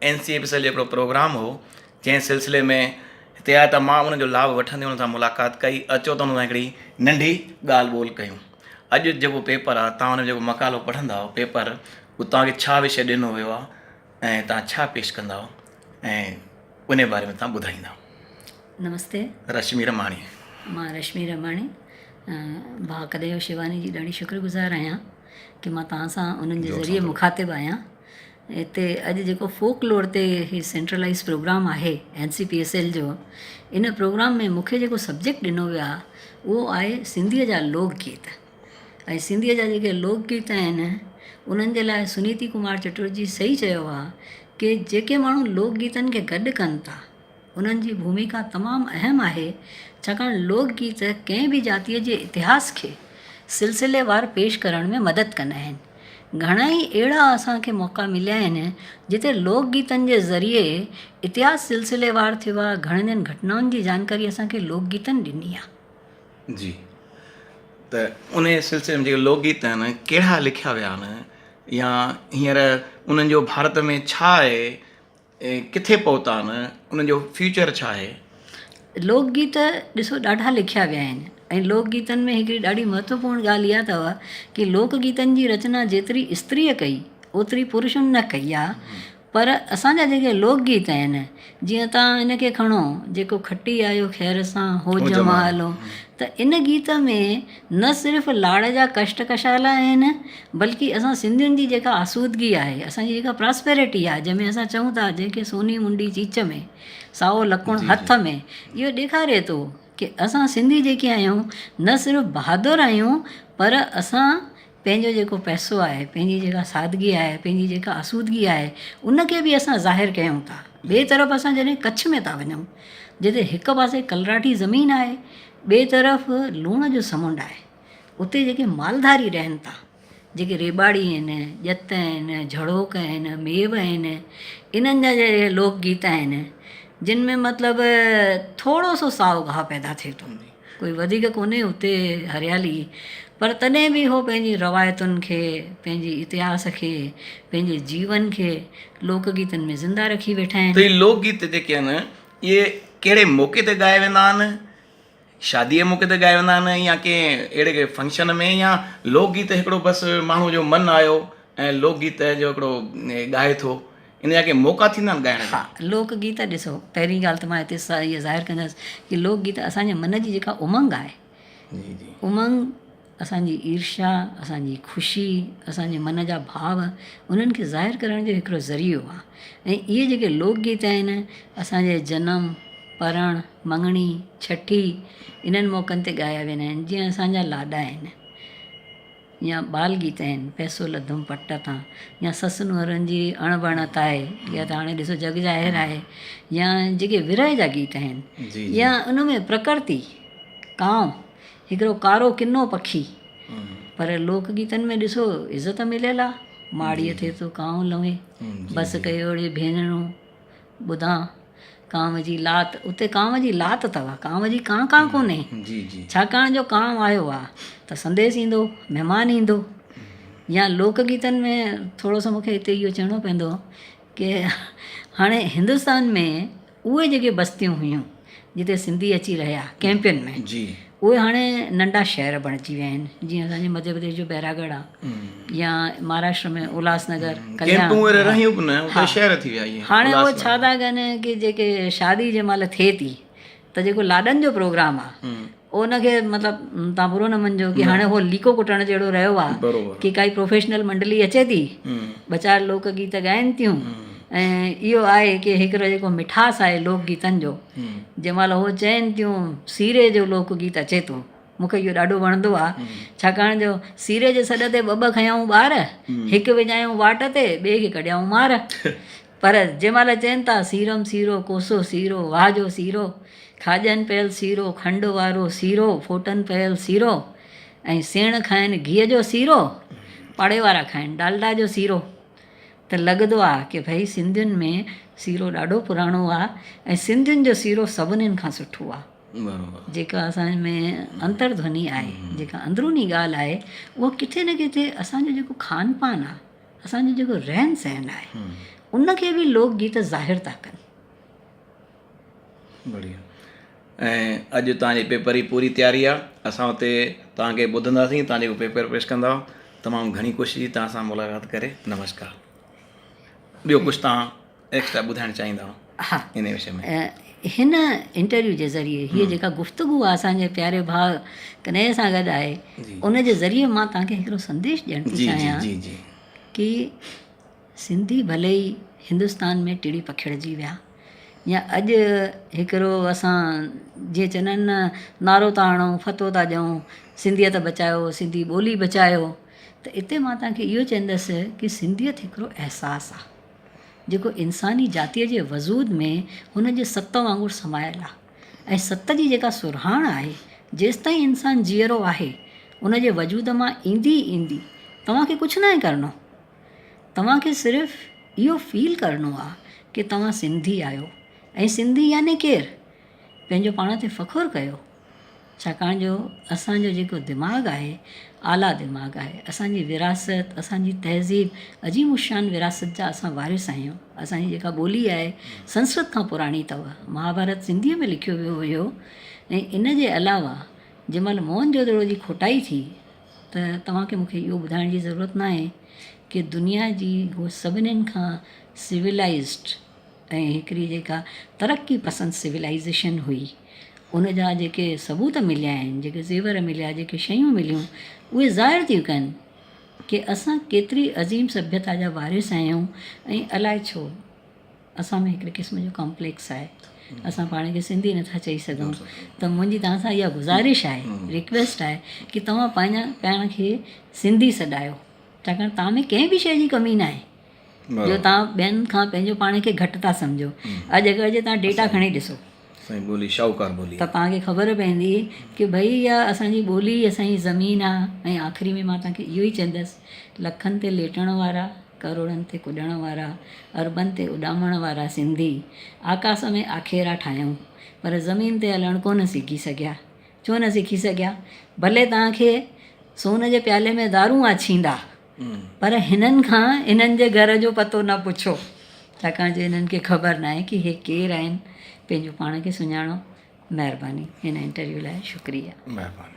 N C A P cell جو هڪڙو programme هو جنهن سلسلي ۾ هتي آيا ته مان ان جو لاڀ وٺندي انهن سان ملاقات ڪئي اچو ته انهن سان هڪڙي ننڍي ڳالهه ٻولهه ڪيون اڄ جيڪو پيپر آ تان ان جو مقالو پڙهندا پيپر هو تان کي ڇا وشي ڏنو ويو آ ۽ تان ڇا پيش ڪندا ۽ انهي باري ۾ تان ٻڌائيندا نمستي رشمي رماڻي مان رشمي رماڻي ڀاڪديو شيواني جي ڏاڍي شڪر گذار آهيان ڪي مان تان سان انهن جي ذريعي مخاطب آهيان هتي اڄ جيڪو فوڪ لور تي هي سينٽرلائيز پروگرام آهي N C P S L جو ان پروگرام ۾ مون کي جيڪو سبجيڪٽ ڏنو ويو آهي اهو آهي سنڌيء جا لوڪ گيت ۽ سنڌيء جا جيڪي لوڪ گيت آهن انهن جي لاء سنيتي ڪمار چٽرجي صحيح چيو آهي ڪي جيڪي ماڻهو لوڪ گيتن کي گڏ ڪن ٿا هنن جي ڀوميڪا تمام اهم آهي، ڇاڪاڻ لوڪ گيت ڪنهن به جاتيء جي اتهاس کي سلسليوار پيش ڪرڻ ۾ مدد ڪندا آهن. گهڻائي اهڙا اسان کي موقعا مليا آهن، جتي لوڪ گيتن جي ذريعي اتهاس سلسليوار ٿيو آهي، گهڻين گهٽنائن جي جانڪاري اسان کي لوڪ گيتن ڏني آهي. جي ته انهيء سلسلي ۾ جيڪي لوڪ گيت آهن، ڪهڙا لکيا ويا آهن يا هينئر انهن جو ڀارت ۾ ڇا آهي؟ ڪٿي پهتا آهن، انهن جو فيوچر ڇا آهي؟ لوڪ گيت ڏسو ڏاڍا لکيا ويا آهن ۽ لوڪ گيتن ۾ هڪڙي ڏاڍي مهتوپورڻ ڳالهه اها اٿو ڪي لوڪ گيتن جي رچنا جيتري استريء ڪئي اوتري پرشن نه ڪئي آهي پر اسان جا جيڪي لوڪ گيت آهن جيئن تان ان کي کڻو جيڪو کٽي آيو خير سان هو جمال ته ان گيت ۾ نه صرف لاڙ جا ڪشٽ ڪشال آهن بلڪ اسان سنڌين جي جيڪا آسودگي آهي اسانجي جيڪا پراسپيرٽي آهي جنهن ۾ اسان چئون ٿا جنهن کي سوني منڊي چيچ ۾ سائو لڪڻ هٿ ۾ اهو ڏيکاري ٿو ڪي اسان سنڌي جيڪي آهيون نه صرف بهادر آهيون پر اسان پنهنجو جيڪو پئسو آهي، پنهنجي جيڪا سادگي آهي، پنهنجي جيڪا آسودگي آهي، ان کي به اسان ظاهر ڪيون ٿا. ٻئي طرف اسان جڏهن ڪڇ ۾ ٿا وڃون، جتي هڪ پاسي ڪلراٺي زمين آهي، ٻئي طرف لوڻ جو سمنڊ آهي، اتي جيڪي مالڌاري رهن ٿا، جيڪي ريٻاڙي آهن، ڄت آهن، جهڙوڪ آهن، ميو آهن، انهن جا جيڪي لوڪ گيت آهن، جن ۾ مطلب ٿورو سو سائو گاهه پيدا ٿئي ٿو. ڪوئي وڌيڪ ڪونهي اتي هريالي پر تڏهن به هو پنهنجي روايتن کي پنهنجي اتهاس کي پنهنجي جيون کي لوڪ گيتن ۾ زنده رکي ويٺا آهن. هي لوڪ گيت جيڪي آهن اهي ڪهڙي موقعي تي ڳايا ويندا آهن شادي جي موقعي تي ڳايا ويندا آهن يا ڪنهن اهڙي ڪنهن فنڪشن ۾ يا لوڪ گيت هڪڙو بس ماڻهو جو من آيو ۽ لوڪ گيت جو هڪڙو ڳائي ٿو ان جا ڪي موقعا ٿيندا آهن ڳائڻ جا؟ ها لوڪ گيت ڏسو پهرين ڳالهه ته مان هتي اهي ظاهر ڪندس ڪي لوڪ گيت اسان جي من جي جيڪا امنگ آهي جي جي امنگ اسان جي عيرشا اسان جي خوشي اسان جي من جا ڀاو انهن کي ظاهر ڪرڻ جو هڪڙو ذريعو آهي ۽ اهي جيڪي لوڪ گيت آهن اسان جي جنم پرڻ مڱڻي ڇٺي انهن موقعن تي ڳايا ويندا آهن جيئن اسان جا لاڏا آهن يا ٻال گيت آهن، پئسو لڌم پٽ تان، يا سس نونهرن جي اڻ بڻ تاهي، اها ته هاڻي ڏسو جڳ ظاهر آهي، يا جيڪي ورهه جا گيت آهن، يا ان ۾ پرڪرتي، ڪانء، هڪڙو ڪارو ڪنو پکي، پر لوڪ گيتن ۾ ڏسو عزت مليل آهي، ماڙيء تي ٿو ڪانء لنوي، بس ڪيو اڙي ڀينرڙون، ٻڌان ڪانء جي لات، اتي ڪانء جي لات اٿو، ڪانء جي ڪانء ڪانء ڪونهي، ڇاڪاڻ جو ڪانء آيو آ ته سنديس ايندو، مهمان ايندو يا لوڪ گيتن ۾ ٿورو سو مونکي هتي اهو چوڻو پوندو ڪي هاڻي هندستان ۾ اهي جيڪي بستيون هيون جتي سنڌي اچي رهيا ڪئمپن ۾ اهي هاڻي ننڍا شهر بڻجي ويا آهن جيئن اسان جي مڌيه پرديش جو بهراڳڙهه آهي يا مهاراشٽر ۾ الهاس نگر هاڻي اهي ڇا ٿا ڪن ڪي جيڪي شادي جنهن مهل ٿئي ٿي ته جيڪو لاڏن جو پروگرام آهي ان کي مطلب تهان برو نه مڃجو ڪي هاڻي هو ليڪو ڪٽڻ جهڙو رهيو آ ڪي ڪائي پروفيشنل منڊلي اچي ٿي ٻه چار لوڪ گيت ڳائين ٿيون ۽ اهو آهي ڪي هڪڙو جيڪو مٺاس آهي لوڪ گيتن جو جنهن مهل هو چين ٿيون سيري جو لوڪ گيت اچي ٿو مونکي اهو ڏاڍو وڻندو آ ڇاڪاڻ جو سيري جي سڏ تي ٻه ٻه کنيائون ٻار هڪ وڃايون واٽ تي ٻي کي ڪڍيائون مار پر جنهن مهل چين ٿا سيرم سيرو، ڪوسو سيرو، واهه جو سيرو، کاڄن پيل سيرو، کنڊ وارو سيرو، ڦوٽن پيل سيرو ۽ سيڻ کائن گيهه جو سيرو، پاڙي وارا کائن ڊالڊا جو سيرو ته لڳدو آ ڪي ڀئي سنڌين ۾ سيرو ڏاڍو پراڻو آ ۽ سنڌين جو سيرو سڀنين کان سٺو آ. جيڪا اسان ۾ انتر ڌوني آهي جيڪا اندروني ڳالهه آهي اها ڪٿي نه ڪٿي اسان جو جيڪو کان پان آ. اسان جو جيڪو رهن سهن آهي ان کي به لوڪ گيت ظاهر ٿا ڪن بڙيا ۽ اڄ تان جي پيپر جي پوري تياري آ اسان اتي تان کي ٻڌندا سين تان جو پيپر پيش ڪندا تمام گھڻي ڪوشش جي تان سان ملاقات ڪري نمسڪار ٻيو ڪجھ تان هن انٽرويو جي ذريعي هيء جيڪا گفتگو اسان جي پياري ڀاء ڪنهيي سان گڏ آهي ان جي ذريعي مان توهان کي هڪڙو سنديش ڏيڻ ٿي چاهيان ڪي سنڌي ڀلي ئي هندستان ۾ ٽڙي پکيڙجي ويا يا اڄ هڪڙو اسان جي چوندا آهن نه نعرو ٿا هڻون فتوو ٿا ڏيون سنڌيت بچايو سنڌي ٻولي بچايو ته اتي مان توهان کي اهو چوندس ڪي سنڌيت هڪڙو احساس آهي جيڪو انساني جاتيء جي وجود ۾ هن جي ست وانگر سمايل آ ۽ ست جي جيڪا سرهاڻ آهي، جيستائين انسان جيئرو آهي، ان جي وجود مان ايندي ئي ايندي، توهان کي ڪجهه ناهي ڪرڻو. توهان کي صرف اهو فيل ڪرڻو آ ڪي توهان سنڌي آهيو ۽ سنڌي يعني ڪير؟ پنهنجو پاڻ تي فخر ڪيو. ڇاڪاڻ جو اسان جو جيڪو دماغ آهي اعليٰ دماغ آهي اسان جي وراثت اسان جي تهذيب عظيم الشان وراثت جا اسان وارث آهيون اسان جي جيڪا ٻولي آهي سنسڪرت کان پراڻي اٿئو مهاڀارت سنڌي ۾ لکيو ويو هيو ۽ ان جي علاوه جنهن مهل موهن جو دڙو جي کوٽائي ٿي ته توهان کي مونکي اهو ٻڌائڻ جي ضرورت ناهي ڪي دنيا جي هو سڀني کان سولايزڊ ۽ هڪڙي جيڪا ترقي پسند سولائيزيشن هئي ان جا جيڪي ثبوت مليا آهن جيڪي زيور مليا جيڪي شيون مليون اهي ظاهر ٿيون ڪن ڪي اسان ڪيتري عظيم سڀيتا جا وارث آهيون ۽ الاء ڇو اسان ۾ هڪڙي قسم جو ڪامپليڪس آهي اسان پاڻ کي سنڌي نٿا چئي سگهون ته منهنجي توهان سان اها گذارش آهي رڪويسٽ آهي ڪي توهان پنهنجا پاڻ کي سنڌي سڏايو ڇاڪاڻ توهان ۾ ڪنهن به شيء جي ڪمي ناهي جو توهان ٻين کان پنهنجو پاڻ کي گهٽ ٿا سمجهو. اڄ اگر جي توهان ڊيٽا کڻي ڏسو. سائين ٻولي شاهوڪار ٻولي آهي. ته توهان کي خبر پوندي ڪي ڀئي اها اسان جي ٻولي ئي اسان جي زمين آهي ۽ آخري ۾ مان توهان کي اهو ئي چوندس لکن تي ليٽڻ وارا ڪروڙن تي ڪڏڻ وارا اربن تي اڏامڻ وارا سنڌي آڪاس ۾ آکيرا ٺاهيائون پر زمين تي هلڻ ڪونه سگهي سگهيا ڇو نه سکي سگهيا ڀلي توهان کي سون جي پيالي ۾ دارون آڇيندا پر هنن کان انهن جي گهر جو پتو نه پڇو، ڇاڪاڻ جو انهن کي خبر ناهي ڪي هي ڪير آهن، پنهنجو پاڻ کي سڃاڻو. مهرباني هن انٽرويو لاء شڪريا. مهرباني.